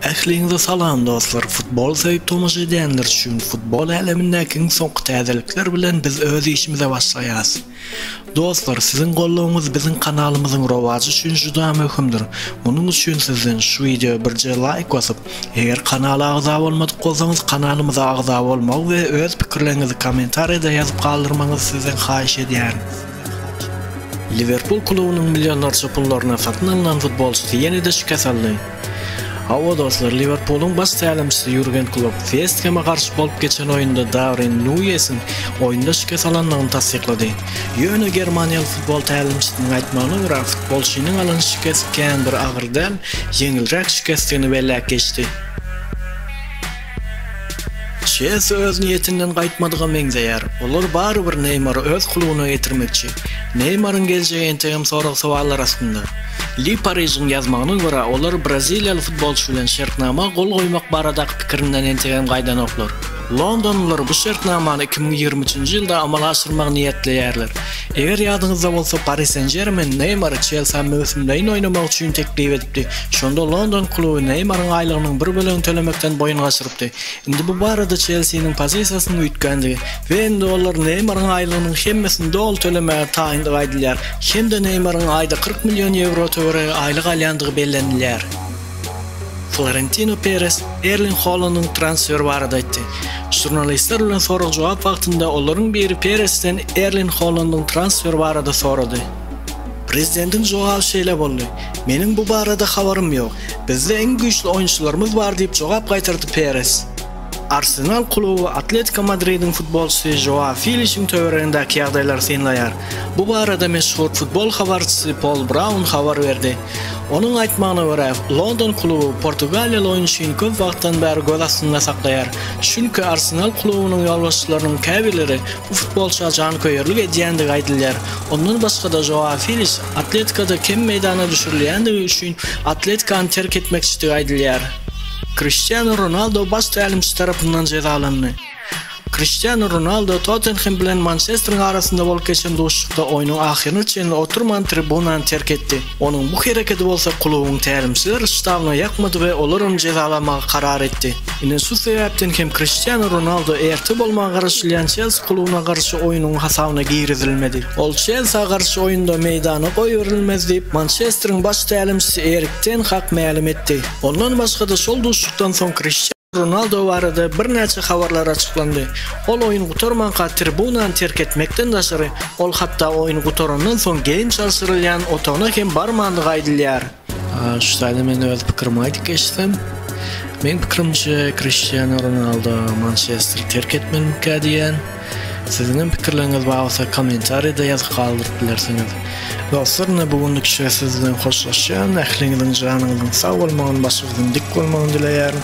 Ähliňize salam dostlar futbol söýüp tomaşa edýänler üçin futbol älemindäki iň soňky täzelikler bilen biz öz işimize başlaýas dostlar siziň goldawyňyz biziň kanalymyzyň rowajy üçin juda möhümdir munuň üçin sizden şu wideo birje laýk basyp eger kanala agza bolmadyk bolsaňyz kanalymyza agza bolmagy we öz pikirleriňizi kommentariýada ýazyp galdyrmagyňyzy sizden haýyş edýärin. Liwerpul klubunyň millionlarça pullaryna satyn alnan futbolçysy ýene-de şikes aldy. Hawa, dostlar, Liwerpulyň baş tälimçisi Ýurgen Klopp West Heme garşy bolup geçen oýunda Darwin Nuýesiň oýunda şikes alandygyny tassyklady. Ýöne germaniýaly futbol tälimçisiniň aýtmagyna görä, futbolçynyň alan şikesi kän bir agyr däl, ýeňilräk şikesdigini belläp geçdi. Çesi öz niýetinden gaýtmadyga meňzeýär. Olar barybir Neýmary öz klubyna getirmekçi. Neýmaryň geljegi entegem sorag-sowallar astynda. Le Paris'iň ýazmagyna görä, olar braziliýaly futbolçy bilen şertnama gol goýmak baradaky pikirinden entegem gaýdanoklar. Londonlylar bu şertnamany iki müň ýigrimi üçünji ýylda amala aşyrmagy niýetleýärler. Eger ýadyňyzda bolsa, Pari Sen-Žermen Neýmary Çelsä möwsümleýin oýnamak üçin teklip edipdi. Şonda london kluby Neýmaryň aýlygynyň bir bölegini tölemekden boýun gaçyrypdy. Indi bu barada Çelsiniň pozisiýasynyň üýtgändigi we indi olar Neýmaryň aýlygynyň hemmesini doly tölemäge taýyndygy aýdylýar hem-de Neýmaryň aýda kyrk million ýewro töweregi aýlyk alýandygy bellenilýär. Florentino Peres Erling Holandyň transferi barada aýtdy. Žurnalistler bilen sorag-jogap wagtynda olaryň biri Peresden Erling Holandyň transferi barada sorady. Prezidentiň jogaby şeýle boldy, Meniň bu barada habarym ýok. Bizde iň güýçli oýunçylarymyz bar diýip jogap gaýtardy Peres. Arsenal kluby Atletiko Madridiň futbolçysy Žoa Filişiň töweregindäki ýagdaýlary synlaýar. Bu barada meşhur futbol habarçysy Pol Braun habar berdi. Onuň aýtmagyna görä, London kluby portugaliýaly oýunçyny köp wagtdan bäri göz astynda saklaýar, çünki Arsenal klubunyň ýolbaşçylarynyň käbirleri bu futbolçyga janköýerlik edýändigi aýdylýar. Ondan başga-da Žoao Feliks Atletikada kem meýdana düşürilýändigi üçin Atletikany terk etmekçidigi aýdylýar. Kriştianu Ronaldo baş tälimçi tarapyndan jezalandy. Kriştianu Ronaldo Tottenhem bilen Mançesteriň arasynda bolup geçen duşuşykda oýnuň ahyryna çenli oturman tribunany terk etdi. Onuň bu hereketi bolsa klubuň tälimçiler ştabyna ýakmady we olar ony jezalamagy karar etdi. Ine şu sebäpden hem Kriştianu Ronaldo erte bolmaga garaşylýan Çelsi klubyna garşy oýnuň hasabyna girizilmedi. Ol Çelsa garşy oýunda meýdana goýberilmez diýip, Mançesteriň baş tälimçisi Erik ten Hag mälim etdi. Ondan başga-da şol duşuşykdan soň Kriştianu. Ronaldo barada birnäçe habarlar açyklandy. Ol oýun gutarmanka tribunany terk etmekden daşary, ol hatda oýun gutarandan soň geýim çalşyrylýan otagyna hem barmandygy aýdylýar. Şu taýdan men öz pikirimi aýdyp geçsem, meň pikirimçe, Kriştianu Ronaldo Mançesteri terk etmelikä diýýän. Siziň hem pikirleriňiz bar bolsa kommentariýada ýazyp galdyryp bilersiňiz. Dostlar ine bu günlükçe siz bilen hoşlaşýan, ähliňiziň janyňyzyň sag bolmagyny başyňyzyň dik bolmagyny dileýärin.